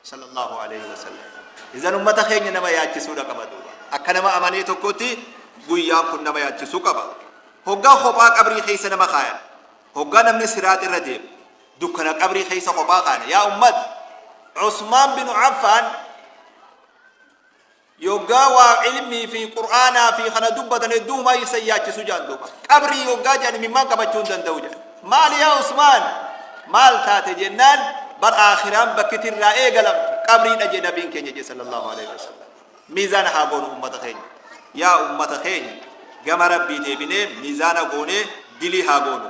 Sallallahu Aleyhi Wasallam. Izan ummata keenya nama yaachisuudha qaba duuba. Akka nama amanee tokkotti guyyaan kun nama yaachisuu qaba. Hoggaa kophaa qabrii keessa nama kaayan. Hoggaa namni siraat irra deemu. Dukkana qabrii keessa kophaa kaana. Yaa ummata. Usmaan bin Affaan Yoggaa waa ilmii fi qur'aanaa fi kana dubbatan hedduumaa isa yaachisu jaan duuba. Qabrii yoggaa jaan imimmaan qabachuu hin danda'u jaan. Maal yaa Usmaan? Maal taate jennaan bar aakhiraan bakkiti irraa eegalamtu qabriidha jee nabiin keenya jee sallallahu alaihi wasallam. Miizaana haa goonu ummata keenya. Yaa ummata keenya gama rabbii deebinee miizaana goonee dilii haa goonu.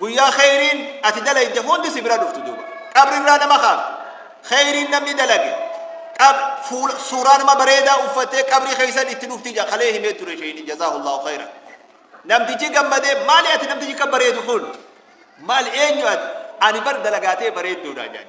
Guyyaa kheyriin ati dalayde hundi si bira dhuftu duuba. Qabri irraa nama kaaftu. Kheyriin namni dalage. Qab fuula suuraa nama bareedaa uffattee qabrii keessan itti dhufti ja kalee himee ture sheeyni jazaahullahu kheyra. Namtichi gammadee maali ati namtichi kan bareedu kun? Maal eenyu ati? Ani bar dalagaatee bareedduudha jaan.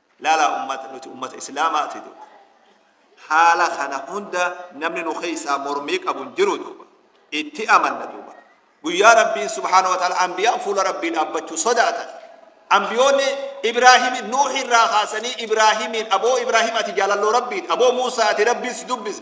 Laalaa ummata nuti ummata islaamaati duuba haala kana hunda namni nu keessaa mormii qabu hin jiru duuba itti amanna duuba guyyaa rabbiin subhaanahu wa ta'ala anbiyaan fuula rabbii dhaabbachuu sodaatan anbiyoonni ibraahimi nuuhi irraa kaasanii ibraahimiin aboo ibraahim ati jaalalloo rabbiiti aboo muusaa ati rabbiin si dubbise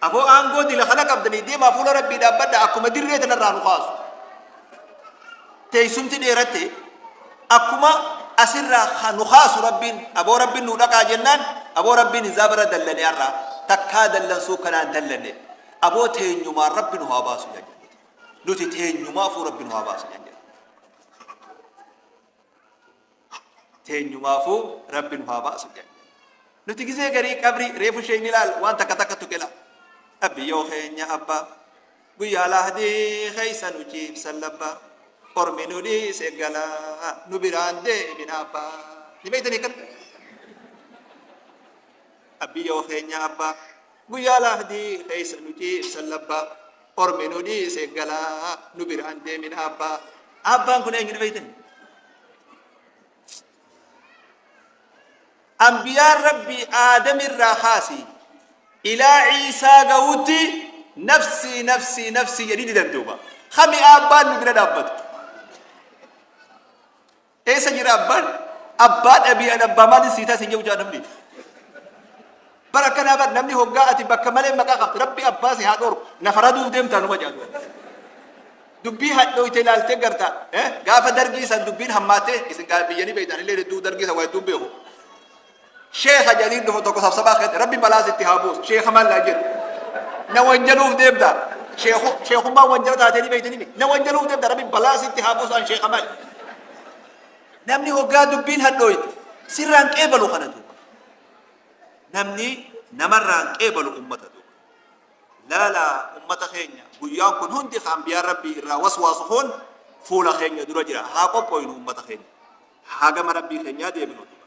Aboo aangoo dila kana qabdanii deemaa fuula rabbii dhaabbadha akkuma dirree tanarraa nu kaasu. Teessumti dheeratte akkuma asirraa ha- nu kaasu rabbiin aboo rabbiin nu dhaqaa jennaan aboo rabbiin isaa bara dallane har'aa takkaa dallansuu kanaan dallanne aboo teenyumaan rabbi nu haa baasu jedhe. Nuti teenyumaafuu rabbi nu haa baasu jedhe. teenyumaafu rabbi nu haa baasu jedhe nuti gisee garii qabrii reefu ishee hin ilaal waan takka takka tuqila rabbi yoo keenya abba guyyaa lahdii keessa nu ciibsan labba ormi nu dhiise gala nu biraan deemin abba ni beeytanii kan rabbi yoo keenya abba Guyyaa laahdii keessa nuti ibsan labbaa Ormi nu dhiise galaa nu biraan deemin abbaa. Abbaan kun eenyudha beeytan? Anbiyaan Rabbii Aadam irraa kaasi ilaa Ciisaa ga'utti nafsii nafsii nafsii jedhii didan duuba. Kami abbaan nu bira dhaabbatu? Eessa jira abbaan? Abbaa dhabii an abbaa maalin sii taasise jedhu jaa namni. Bara akkanaa bar namni hoggaa ati bakka malee maqaa qabda rabbi abbaa si haa dhorku na faraduuf deemtaa numa jaatu. Dubbii hadhooyte ilaaltee gartaa eh? gaafa dargii san dubbiin hammaattee isin gaa biyyanii beektan illee hedduu dargii san waa hedduu beeku. Sheekha jedhanii dhufu tokko sabsabaa keessa rabbi balaa sitti haa buusu sheekha maal naa jedhu na wanjaluuf deemta sheekummaa wanjala taatee ni beektanii na wanjaluuf deemta rabbi balaa sitti haa buusu an sheekha maal namni hoggaa dubbiin hadhooyte sirraan qeebalu kana duuba namni namarraan qeebalu ummata duuba laala ummata keenya guyyaan kun hundi kan biyaa rabbii irraa waswaasu kun fuula keenya dura jira haa qophooynu ummata keenya haa gama rabbii keenyaa deebinu duuba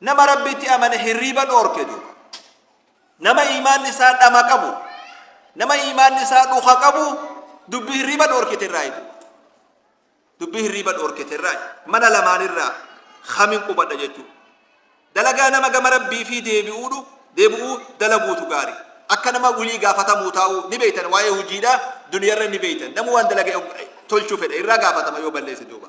Nama Rabbitti amane hirriiba dhoorke duuba. Nama iimaanni isaa dhama qabu, nama iimaanni isaa dhuka qabu dubbii hirriiba dhoorkite irraa eegu. Dubbii hirriiba dhoorkite irraa mana lamaan irraa kamiin qubadha jechuudha. Dalagaa nama gama Rabbii fi deebi'uudhu deebi'uu dalaguutu gaarii. Akka nama wulii gaafatamuu taa'uu ni beektan waa'ee hojiidhaa duniyarra ni beektan. Namni waan dalagee tolchuu fedhe irraa gaafatama yoo balleesse duuba.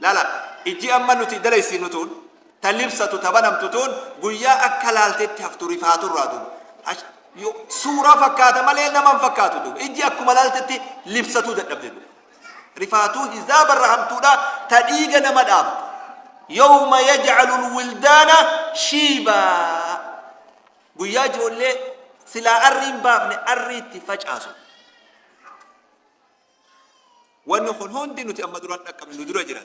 Lala, ijji amma nuti dalaysinu tuun, ta libsatu, ta banamtu tuun, guyyaa akka laaltetti haftu rifaatu irraa duuba. Ash, yo, suuraa fakkaata malee nama hin fakkaatu duuba. Ijji akkuma laaltetti libsatuu dadhabde duuba. Rifaatuu hizaaba irra hamtuudha, ta dhiiga nama dhaabdu. Yawma yaj'alu lwildaana shiibaa. Guyyaa ijoollee silaa arrii hin baafne arriitti facaasu. Wanni kun hundi nuti amma duraan dhaqqabne nu dura jira.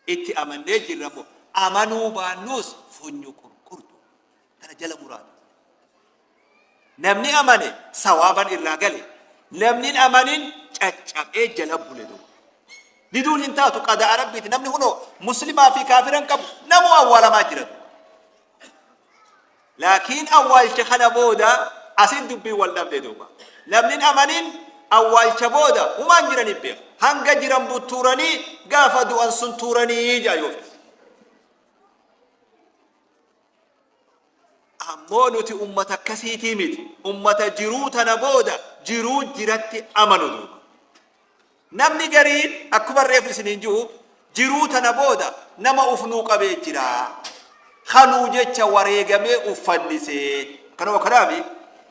Itti amannee jirra immoo amanuu baannuus funyu qurqurtu kana jala muraatu. Namni amane sawaaban irraa gale namni hin amanin caccabee jala bule duuba. Diduun hin taatu qadaa rabbiiti namni kunoo muslimaa fi kaafira hin qabu namuu awwaalamaa jira duuba. laakiin awwaalcha kana booda asin dubbiin wal dhabde duuba namnin amanin awwaalcha booda humaan jiraniif beeka hanga jiran buttuuranii gaafa du'an sun tuuranii jaa yoo fedhe ammoo nuti ummata akkasiitii miti ummata jiruu tana booda jiruu jiratti amanu duuba Namni gariin akkuman reefu isiniin ji'u jiruu tana booda nama uf nuu qabee jira. Ka nuu jecha wareegamee uf fannisee. Akkana moo kanaa mii?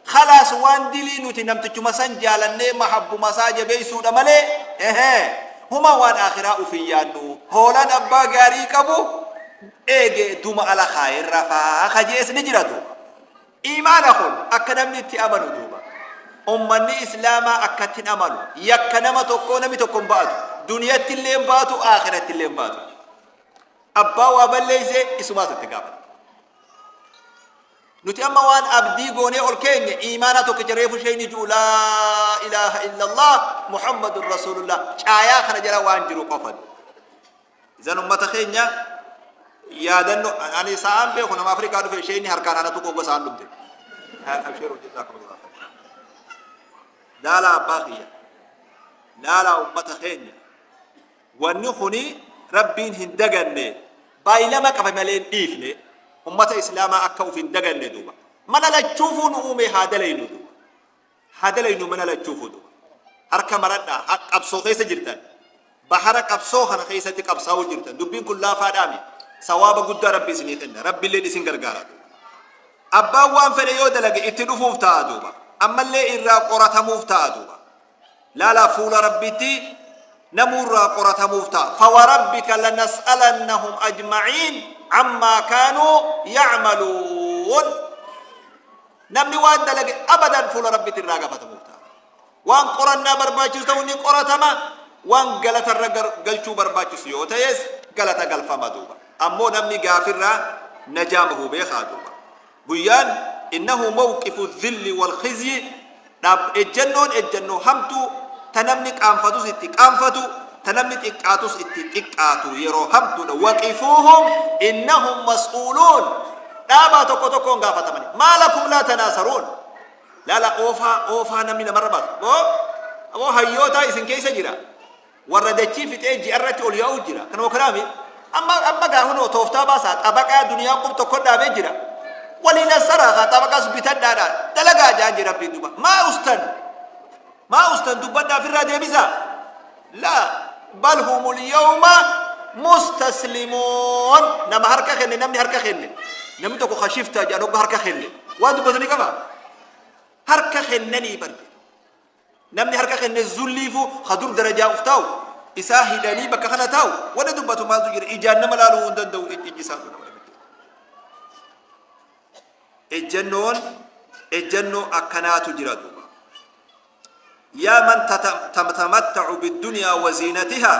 Khalaas waan dilii nuti namtichuma san jaalannee mahabbuma isaa jabeeysuudha malee ehe huma waan aakhiraa uf hin yaannu. Hoolan abbaa gaarii qabu eege duma ala khaayee rafaa ka je'es ni jira duuba. Iimaana kun akka namni itti amanu duuba. Ummanni islaamaa akkatti hin amanu. Yakka nama tokkoo nami tokko hin ba'atu. Duniyatti illee hin baatu, aakhiratti illee hin baatu. Abbaa waa balleessee isumaatu itti gaafata. Nuti amma waan abdii goonee ol keenye iimaanaa tokkicha reefu sheeyni du'u laa ilaaha illallah Muhammadun Rasuulullah caayaa kana jala waan jiru qofatu. Isan ummata keenya yaadanno ani sa'aan beeku nama Afrikaa dhufe ishee inni harkaan anatu qogga sa'aan dhumte. Abshiru jazakumullah. Laala abbaa kiyya. Laala ummata keenya. Wanni kuni rabbiin hin daganne baay'ilama qaba malee hin dhiifne ummata islaamaa akka uf hin daganne duuba. Mala lachuufuu nu uume haa dalaynu duuba. Haa dalaynuu mana lachuu fudu. Harka maradhaa ha qabsoo keessa jirtan bahara qabsoo kana keessatti qabsaa'uu jirtan dubbiin kun laafaadhaami sawaaba guddaa rabbi isinii kenna rabbilleen isin gargaara abbaan waan fedhe yoo dalage itti dhufuuf ta'a duuba ammallee irraa qoratamuuf ta'a duuba laalaa fuula rabbitti namuu irraa qoratamuuf ta'a fawarabbika lanas'alannahum ajma'iin ammaa kaanuu ya'maluun Namni waan dalage abadan fuula Rabbitti irraa gafatamuuf ta'a. Waan qorannaa barbaachisu ta'u ni qoratama, waan galata irra gar- galchuu barbaachisu yoo ta'es galata galfama duuba. Ammoo namni gaafirraa najaa bahuu beekaa duuba. Guyyaan innahu mawqifu dhilli wal khizyi dhab Ejjennoon ejjennoo hamtuu ta namni qaanfatus itti qaanfatu ta namni xiqqaatus itti xiqqaatu yeroo hamtuudha waqifuuhum innahum mas'uuluun dhaabaa tokko tokkoon gaafatamani maa lakum laa tanaasaruun laala oofaa oofaa namni namarra baasu aboo aboo hayyootaa isin keessa jira Warra dachii fixee ji'arratti ol yaa'uu jira. Kanuma kanaa miti. Amma amma gaa kunoo tooftaa baasaa xabaqaa duniyaa qub tokko dhaabee jira. Waliin as saraakaa xabaqaas bitadhaadhaa dalagaa jaan jira rabbiin duba. Maa ustan maa ustan dubbadhaa ofirraa deebisaa. Laa bal humul yawma mustaslimoon nama harka kenne namni harka kenne namni tokko kashiftaa jedhan ogga harka kenne waan dubbatu ni qaba harka kennanii barge Namni harka kenne zulliifu ka dur darajaa uf taa'u isaa hidhanii bakka kana taa'u wanni dubbatu maaltu jira ijaan nama laaluu hin danda'u ij- ijji isaatu nama dhiba ejjannoon ejjannoo akkanaatu jira duuba yaa man tata- tam- tamatta'u biddunyaa waziinatihaa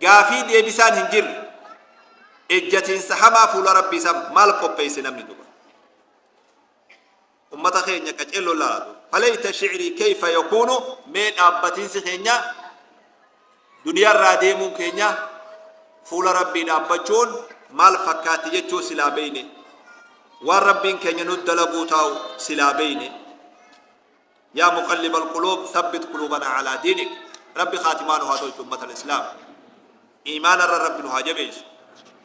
Gaafii deebisaan hin jirre. Ejjatiinsa hamaa fuula Rabbii isaaf maal qopheesse namni duba. Ummata keenya qaceelloo laalatu. Falayta shi'rii keeyfa yakuunu mee dhaabbatiinsi keenya duniyaa irraa deemuun keenya fuula Rabbii dhaabbachuun maal fakkaatti jechuu silaa beeyne. Waan Rabbiin keenya nu dalaguu taa'u silaa beeyne. Yaa muqallibal quluub thabbit quluubanaa alaa diinik Rabbi khaatimaa nu haa tolchu ummatal islaam iimaanarra Rabbi nu haa jabeessu.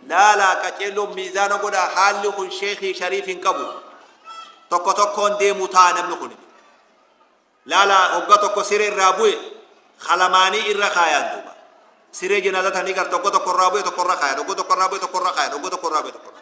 Laalaa qaceelloon miizaana godhaa haalli kun sheekii shariif hin qabu tokko tokkoon deemu ta'a namni kun laalaa hogga tokko siree irraa bu'e kalamaanii irra kaayaan duuba siree jinaazatanii gar tokko tokko irraa bu'e tokko irra kaayaan hogga tokko irraa bu'e tokko irra kaayaan hogga tokko irraa bu'e tokko irra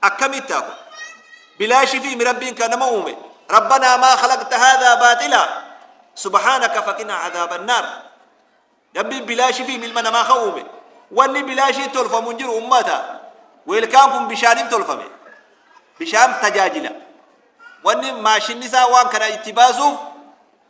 Akkamittaa kun? Bilaashifiimi Rabbiin ka nama uume. Rabbanaa maa khalaqta haadhaa baaxilaa subhaanaka faqinaa adaabannaar. Rabbiin bilaashifiimi ilma namaa ka uume. Wanni bilaashiin tolfamu hin jiru ummata. Weelkaan kun bishaanin tolfame. Bishaan tajaajila. Wanni maashinni isaa waan kana itti baasuuf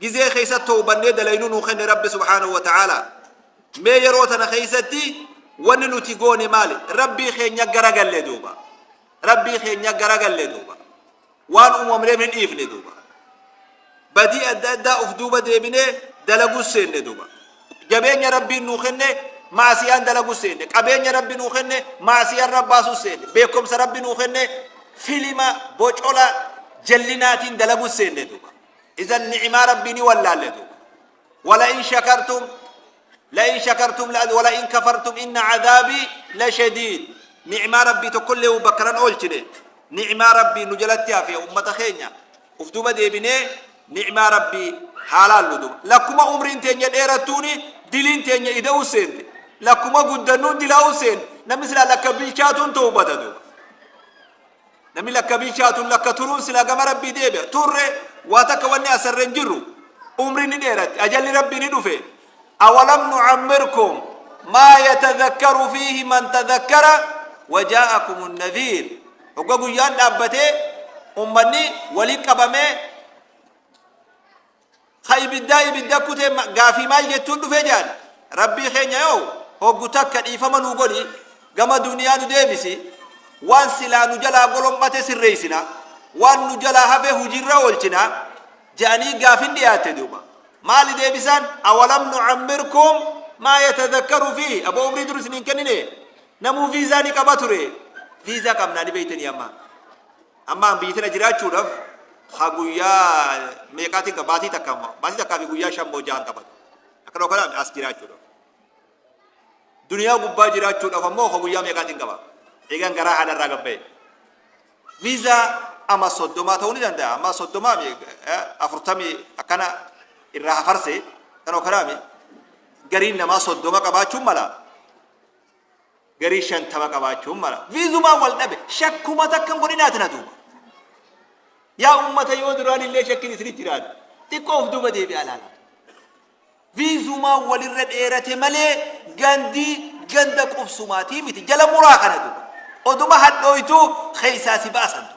Gizee keessa tawbannee dalaynuu nuu kenne Rabbi subhaanahu wa ta'aalaa. Mee yeroo tana keessatti wanni nuti goone maali? Rabbii keenya garagalle duuba. Rabbii keenya garagalle duuba. Waan uumamneef ni dhiifne duuba. Badii adda addaa of duuba deebinee dalaguus seenne duuba. Jabeenya Rabbiin nuu kenne maasiyaan dalaguus seenne. Qabeenya Rabbi nuu kenne maasiyaan rabbaasuus seenne. Beekumsa Rabbi nuu kenne filima bocola jallinaatiin dalaguus seenne duuba. Izan ni'imaa Rabbii ni wallaalle duuba. Wala'in shakartum la'in shakartum wala'in kafartum inna cadaabii la shadiid. Ni'imaa Rabbii tokkollee bakkaran oolchine. Ni'imaa Rabbii nu jalatti hafe ummata keenya. Uf duuba deebinee ni'imaa Rabbii haa laallu duuba. Lakkuma umriin teenya dheerattuuni diliin teenya ida'uu seente. Lakkuma guddannuun dilaa'uu seente. Namni silaa lakka bilchaatuun ta'uu bada duuba. Namni lakkabiin shaatun lakka turuun silaa gama rabbii deebi'a. Turre waa takka wanni asarra hin jirru. Umri ni dheeratti. Ajalli rabbii ni dhufe. Awalam nucammirkum maa yatadhakkaru fiihi man tadhakkara wajaa'akum nadhiir. Hogga guyyaan dhaabbatee ummanni wali qabamee Ka ibiddaa ibidda kute gaafii maal jettuun dhufe jaan Rabbii keenya yoo hoggu takka dhiifama nuu godhi gama duniyaa nu deebisi waan silaa nu jalaa golom'ate sirreeysina waan nu jalaa hafe hujiirra oolchina ja'anii gaafin dhiyaatte duuba maali deebisaan awalam nucammirkum maa yatadakkaru fi abo umrii dur isiniin kennine namuu viizaa ni qaba ture viizaa qabnaa ni beeytanii ammaa Amma an biyya tana jiraachuudhaaf ha guyyaa meeqaatiin qaba baatii takka amma baatii takkaa fi guyyaa shan moo jahan qaba akkana okkanaami as jiraachuudhaaf. Duniyaa gubbaa jiraachuudhaaf ammoo ha guyyaa meeqaatiin qaba eegan garaa haadha irraa gabba'e. Viizaa amma soddomaa ta'uu ni danda'a amma soddomaa mi afurtamii akkana irraa hafarse kan okkanaami gariin namaa soddoma qabaachuun mala. garii shantama qabaachuun mala. Viizumaan wal dhabe shakkuma takkan godhinaati na duuba. Yaa ummata yoo duraan illee shakkin isinitti jiraate xiqqoo of duuba deebi'aa laala. Viizumaan walirra dheerate malee gandii ganda qubsumaatii miti jala muraa kana duuba. Oduma hadhooytuu keessaa si baasan duuba.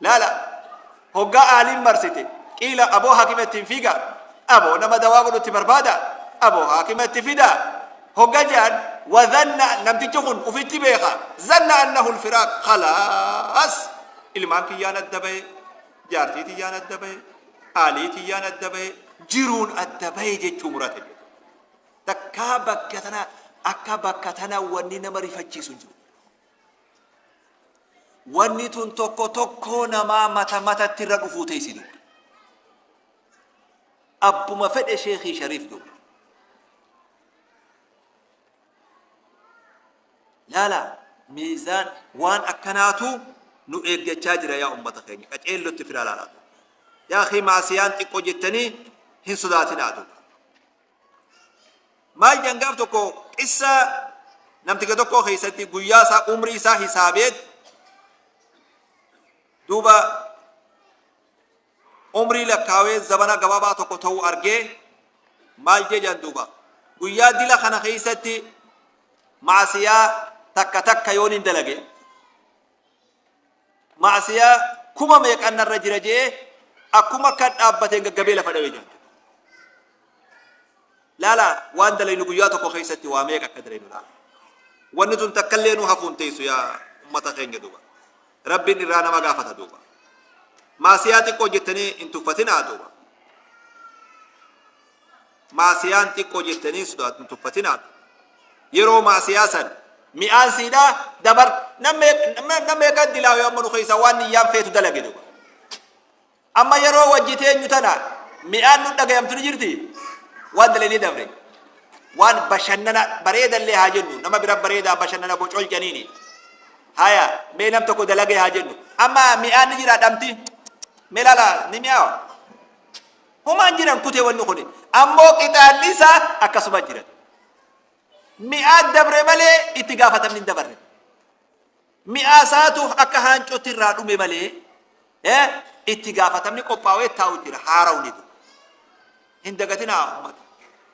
laala hoggaa aaliin marsite qiila aboo haakima ittiin fiiga aboo nama dawaa godhutti barbaada aboo haakima itti fida hogga jaan wadhanna namtichi kun ufitti beeka zanna annahu lfiraaq khalaas ilmaan kiyyaan adda bahe jaartii tiyyaan adda bahe aalii tiyyaan adda bahe jiruun adda bahe jechuu murate takkaa bakka tana akka bakka tana wanni nama rifachiisu jiru Wanni tun tokko tokkoo namaa mata matatti irra dhufuu teessi dubbi. Abbuma fedhe sheekii shariif dubbi. Laala miizaan waan akkanaatu nu eeggachaa jira yaa ummata keenya qaceellotti firaa laalaatu. Yaa kee maasiyaan xiqqoo jettanii hin sodaatinaa dubbi. maal jedhan gaaf tokko qissa namticha tokkoo keessatti guyyaa isaa umrii isaa hisaabeet duuba umrii lakkaawee zabana gabaabaa tokko ta'uu argee maal jedhan duuba guyyaa dila kana keessatti maasiyaa takka takka yoon hin dalage maasiyaa kuma meeqan narra jira jee akkuma akka dhaabbateen gaggabee lafa dhawe jaalladha. Laala waan dalaynu guyyaa tokko keessatti waa meeqa akka dalaynu laala. Wanni tun takkallee nu hafuun teessu yaa ummata keenya duuba. Rabbiin irraa nama gaafata duuba. Maasiyaa xiqqoo jettanii hin tuffatinaa duuba. maasiyaan xiqqoo jettanii hin sodaattu hin tuffatinaa yeroo maasiyaa san mi'aan siidhaa dabar namni kan dilaawe amma nu keessaa waan niyyaan feetu dalage duba amma yeroo wajji teenyu tana mi'aan nu dhagayamtu ni jirti waan dalee ni dabre waan bashannana bareedallee haa jennu nama bira bareedaa bashannana bocol janiini haya mee nam tokko dalagee haa jennu amma mi'aan ni jira dhamti mee laala ni mi'aawa Homaa hin jiran kutee wanni kuni. Ammoo qixaanni isaa akkasuma jiran. Mi'aa dabre malee itti gaafatamni hin dabarre. Mi'aa isaatu akka haancootti irraa dhume malee eh, itti gaafatamni qophaa'ee taa'u jira haara'u ni hin dagatinaa ummata.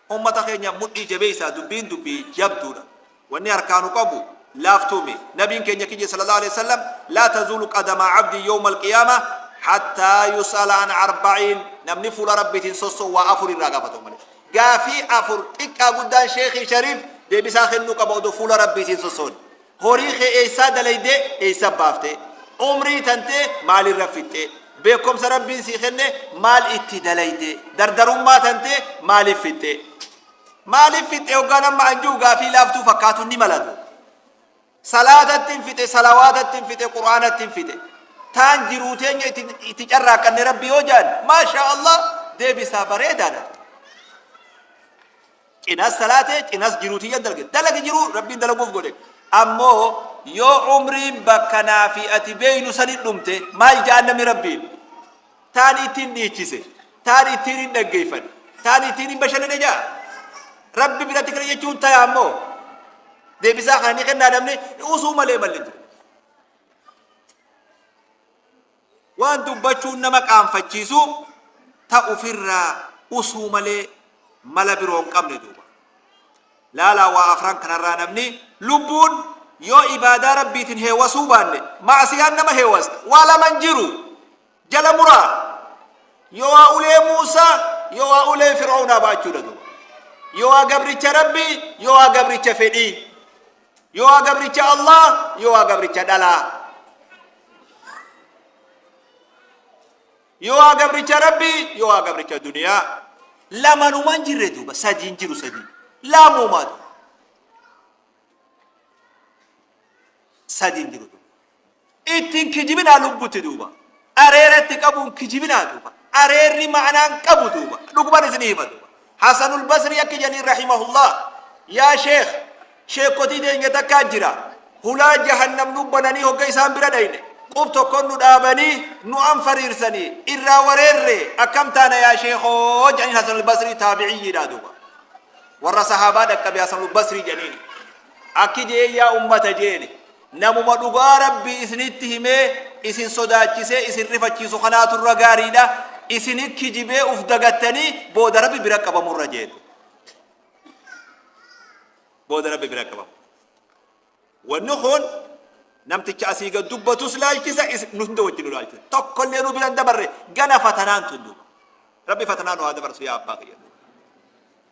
Ummata keenya mudhii jabeessaa dubbiin dubbii jabduudha. Wanni harkaa nu qabu laaftuu mi. Nabiin keenya kiyya sallallahu aleyh wasallam laa tazuulu qadama abdin yowmal qiyaamah hattaa yus'ala an arba'iin namni fuula Rabbiitin sosso'u waa afur irraa gaafatama malee. Gaafii afur xiqqaa guddaan sheekhii shariif deebisaa kennuu qaba odoo fuula Rabbiitiin sossoone. Horii kee eessaa dalaydee eessa baaftee? Umrii tantee maalirra fixxee? Beekomsa Rabbiin sii kenne maal itti dalaydee? Dardarummaa tantee maaliif fixxee? Maaliif fixxee hoggaan amma anjuu gaafii laaftuu fakkaatu ni malatu. Salaatatti hin fixe, salawaatatti hin fixe, quraanatti hin fixe. Taan jiruu teenya itti, itti carraaqqanne Rabbi yoo jaan, maashaa Allah deebisaa bareedaadha. Cinas salaate, cinas jiruu tiyya dalge. Dalagi jiruu Rabbiin dalaguuf godhe. Ammoo yoo umriin bakka naa fi ati beeynu sanitti dhumte maal ja'an namni Rabbiin? Taan ittiin dhiichise, taan ittiin hin dhaggeeyfane, taan ittiin hin bashannane ja'a. Rabbi biratti kana jechuun taya ammoo deebisaa kana ni kennaa namni usuu malee malli hin jiru. Waan dubbachuun nama qaanfachiisu ta'uf irra usuu malee mala biroo hin qabne duuba. Laalaa waa afran kanarraa namni lubbuun yoo ibaadaa Rabbiitin heewasuu baanne ma'asiyaan nama heewasta. Waa laman jiru. Jala muraa. Yowaa ulee Muusaa yowaa ulee Fir'awnaa ba'achuudha duuba. Yowaa gabricha Rabbii yowaa gabricha fedhii. Yoohaa gabricha Allah, Yoohaa gabricha dhalaa. Yoohaa gabricha Rabbi, Yoohaa gabricha duniyaa. Lamanuma hin jirre duuba, sadii hin jiru sadii. Lamuuma duuba. Sadii hin jiru duuba. Itti hin kijibinaa lubbutti duuba. Areera itti qabuun kijibinaa duuba. Areerri ma'anaa hin qabu duuba. Dhuguman isinii hima duuba. Hasanul Basrii akki jedhanii rahimahullah yaa sheekh sheekkotii teenya takkaa jira. Hulaa jahannam nu bananii hogga isaan bira dhayne qub tokkon nu dhaabanii nu anfariirsanii irraa wareerre akkam taana yaa sheekoo jedhaniin Hasanul Basrii taabi'iyyiidhaa duuba. Warra sahaabaa dhaqqabe Hasanul Basrii jedhaniini. Akki jee yaa ummata jeeni. Namuma dhugaa Rabbii isinitti himee isin sodaachisee isin rifachiisu kanaatu irra gaariidha. Isin kijibee uf dagattanii booda Rabbi bira qabamurra jeete. Booda Rabbi bira qabamu. Wanni kun namticha asii gad dubbatus laalchisa isin nu hunda wajjin nu laalchisa. Tokkollee nu bira hin dabarre gana fatanaan tun duuba. Rabbi fatanaa nu haa dabarsu yaa abbaa kiyya.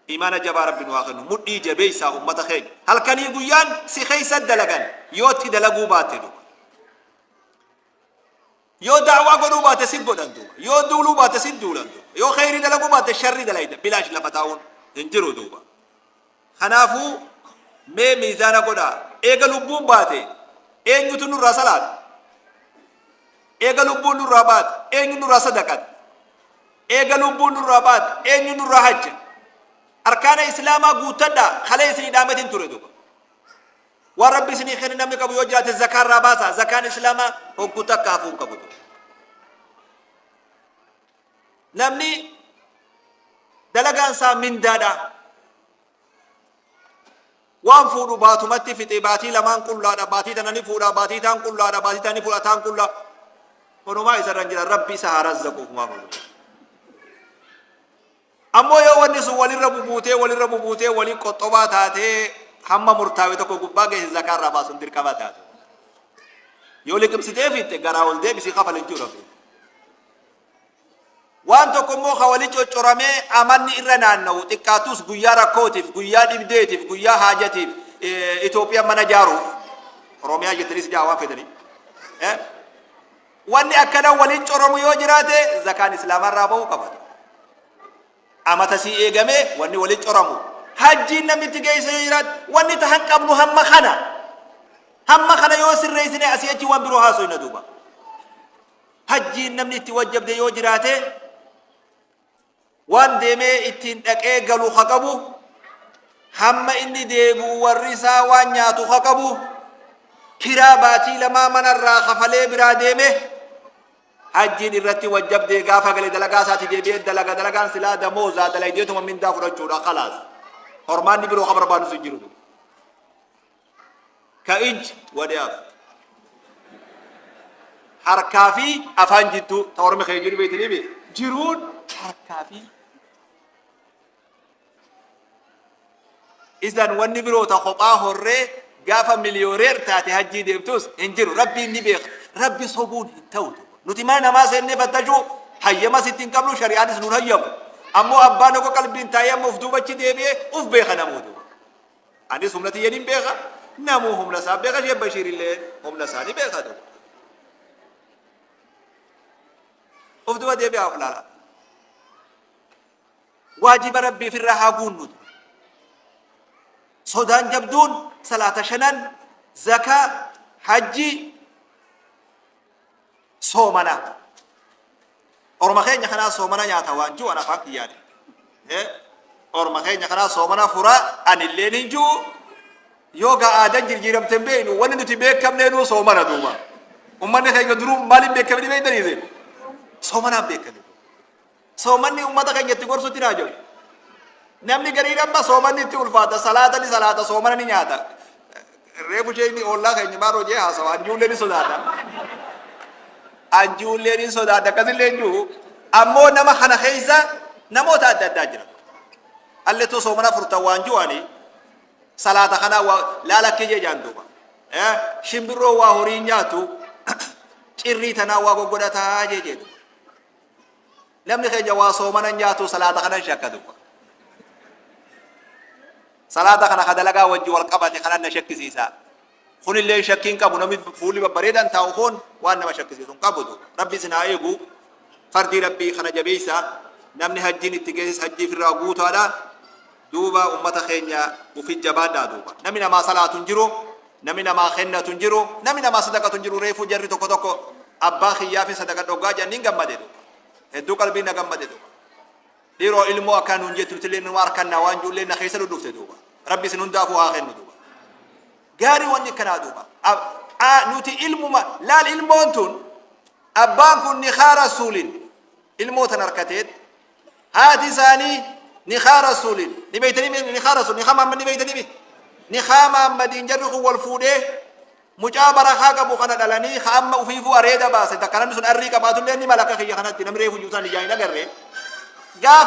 Imana jabaa rabbi nu haa kennu mudhii jabeessaa ummata keenya halkanii guyyaan si keessa dalagan yoo itti dalaguu baatte duuba yoo da'waa godhuu baatte si godhan duuba yoo duuluu baatte si duulan duuba yoo kheyrii dalaguu baatte sharri dalayda bilaash lafa taa'uun hin jiru duuba kanaafuu mee miizaana godhaa eega lubbuun baate eenyutu nurraa salaata eega lubbuun nurraa baate eenyu nurraa sadaqata Eega lubbuun nurraa baate eenyu nurraa hajja? Arkaana Islaamaa guuttadhaa khalee isinii dhaametin ture duuba. Waan Rabbi isinii kenne namni qabu yoo jiraate zakaa irraa baasaa. Zakaan Islaamaa hogguu takka hafuu hin qabu duuba. Namni dalagaan isaa mindaadha. Waan fuudhu baatumatti fixee baatii lamaan qullaadha baatii tana ni fuudha baatii taan qullaadha baatii taan ni fuudha taan qullaa honumaa isarra hin jira rabbi isa haa razzaquuf maa fuudhu. Ammoo yoo wanni sun walirra bubuutee walirra bubuutee waliin qoxxobaa taatee hamma murtaawe tokko gubbaa geesse zakaa irraa baasuun dirqama taatu. Yoo liqimsitee fiitte garaa ol deebisii kafala jechuudha. Waan tokko immoo ka wali coccoramee amanni irra naanna'u xiqqaattus guyyaa rakkootiif, guyyaa dhibdeetiif, guyyaa haajatiif Itoophiyaan mana jaaruuf Oromiyaa jettaniis jaa waan fedhanii. Wanni akkana wali coromu yoo jiraate zakaan islaamaa irraa ba'uu qaba. Amata sii eegamee wanni wali coramu. Hajjiin namitti geessa yoo jiraate wanni tahan qabnu hamma kana. Hamma kana yoo sirreessine asii achi waan biroo haasofna duuba. hajjiin namni itti wajjabde yoo jiraate waan deemee ittiin dhaqee galu ha qabu hamma inni deebi'u warri isaa waan nyaatu ha qabu kiraa baatii lamaa manarraa kafalee biraa deeme hajjiin irratti wajjabdee gaafa gale dalagaa isaati deebi'ee dalaga dalagaan silaa damoozaa dalaydeetuma mindaa fudhachuudha kalaas hormaanni biroo ka barbaadu si jiru ka ij wadaaf harkaa fi afaan jidduu ta ormi kee jiru beeytanii bee jiruun harkaa fi izan wanni biroo ta kophaa horree gaafa miliyooneer taate hajjii deemtus hin jiru rabbiin ni beeka rabbi sobuun hin ta'u nuti mana namaa seennee fattashuu hayyama sitti hin qabnu shari'aanis nuun hayyamu ammoo abbaan tokko qalbiin taa'ee amma uf duubachi deebi'ee uf beeka namoota Anis humna tiyya nin beeka, namuu humna isaa beeka, Sheekh Bashiir illee humna isaa ni beeka duuba. Of duba deebi'aa of ilaalaa. Waajiba Rabbiif irraa haa guunnu ture. Sodaan jabduun salaata shanan, zakaa, hajjii, soomana orma keenya kanaa soomana nyaata waan jiru an afaan kiyyaati orma keenya kanaa soomana fura anillee nin jiru yoo gaa aadan jirjiiramte hin beeknu wanni nuti beekamnee nuu soomana duuba ummanni keenya duruu maaliin beekamni beektaniise soomanaan beekame Soomanni ummata keenya itti gorsutti naa jiru. Namni gariin amma soomanni itti ulfaata, salaata ni salaata, soomana ni nyaata. Reefu ishee inni oollaa keenya maal hojii haasawa, anjuullee ni sodaata. Anjuullee ni sodaata, akkasillee hin jiru. Ammoo nama kana keessa namoota adda addaa jira. Allettuu soomana furtan waan ju'ani salaata kanaa waa laala akka ijee jaan duuba. Eh, Shimbirroo waa horii nyaatu cirrii tanaa waa goggodhataa jee jee duuba. Namni keenya waa soomana nyaatu salaata kanan shakka dubba. Salaata kana ka dalagaa wajji wal qabate kanan na shakkisiisa. Kunillee shakkii hin qabu namni fuulli babbareedan taa'u kun waan nama shakkisiisu hin qabu dubba. Rabbi isin haa eegu. Fardii Rabbii kana jabeessa. Namni hajjiin itti geesses hajjii firraa guutaadha. duuba ummata keenya ufi jabaadhaa duuba nami namaa salaatu hin jiru nami namaa kennatu hin jiru nami namaa sadaqatu hin jiru reefuu jarri tokko tokko abbaa kiyyaafin sadaqa dhoggaa jedhan hin gammade duuba hedduu qalbii na gammade duuba dhiroo ilmoo akkaa nuun jettu nutillee numa harkannaa waan juullee na keessa dhudhufte duuba rabbi isin hundaafuu haa kennu duuba gaarii wanni akkanaa duuba nuti ilmuma laal ilmoon tun abbaan kun nikaa rasuulin ilmoo tan harkateet haati isaanii nikaa rasuulin ni beeytanii mi- nikaa rasuul nikaa maammad ni beeytanii mi nikaa maammadiin jarri kun wal fuudhee mucaa barakaa qabu kana dhalanii ka amma ufiifuu areeda baase takka namni sun arrii qabaatullee ni mala akka kiyya kanatti namni reefu iyyuu isaan ijaan hin agarre gaafa